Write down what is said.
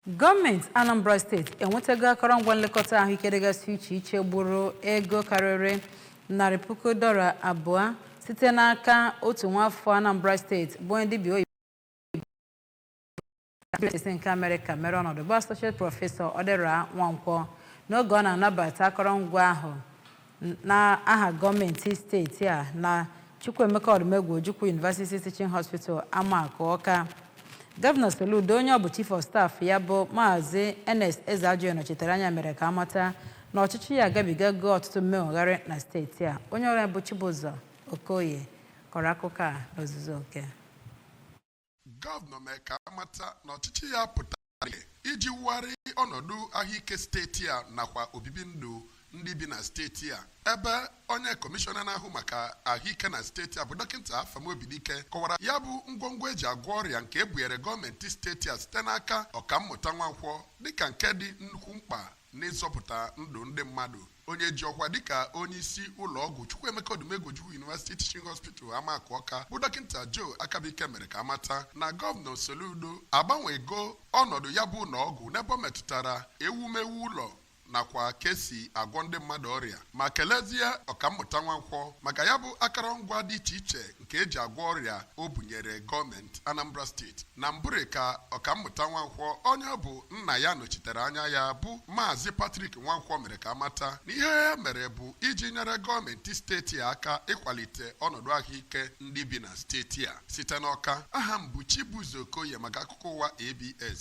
Gọọmenti Anambra steeti enwetago akọrọngwa nlekọta ahụike dịgasị iche iche gburu ego karịrị narị puku dọla abụọ site n'aka otu nwaafọ Anambra steeti bụ onye dibịa oyibo steeti nke Amerịka mere ọnọdụ bụ Associate Prọfesọ Odera Nwankwọ n'oge ọ na-anabata akọrọngwa ahụ n'aha gọọmenti steeti a na Chukwuemeka Odumegwu Ojukwu University Teaching Hospital Amakụ Ọka gọvanọ Soludo onye ọ bụ chief of staff ya bụ maazị Ernest Ezeajughi nọchitere anya mere ka amata na ọchịchị ya agabigago ọtụtụ mmegharị na steeti a onye ọrụ anyị bụ Chibụzọ Okoye kọrọ akụkọ a n'ozuzu oke Gọvanọ mee ka amata na ọchịchị ya pụtara iji wugharị ọnọdụ ahụike steeti a nakwa obibi ndụ ndị bi na steeti a ebe onye kọmishọna na-ahụ maka ahụike na steeti a bụ dọkịta Afam Obidike kọwara ya bụ ngwongwo eji agwọ ọrịa nke ebunyere gọọmenti steeti a site n'aka ọkammụta Nwankwọ dịka nke dị nnukwu mkpa n'ịzọpụta ndụ ndị mmadụ onye ji ọkwa dịka onye isi ụlọ ọgwụ Chukwuemeka Odumegwu Ojukwu University Teaching Hospital Amakụ Ọka bụ dọkịta Joe Akabuike mere ka amata na gọvanọ Soludo agbanwego ọnọdụ ya bụ ụlọ ọgwụ n'ebe ọ metụtara ewumewu ụlọ nakwa ka esi agwọ ndị mmadụ ọrịa ma kelezie ọkammụta Nwankwọ maka ya bụ akọrọngwa dị iche iche nke eji agwọ ọrịa o bunyere gọọmenti Anambra steeti na mbụrị ka ọkammụta Nwankwọ onye ọ bụ nna ya nọchitere anya ya bụ Maazị Patrick Nwankwọ mere ka amata na ihe ya mere bụ iji nyere gọọmenti steeti a aka ịkwalite ọnọdụ ahụike ndị bi na steeti a site n'Ọka aha m bụ Chibụzọ Okoye maka akụkọ ụwa ABS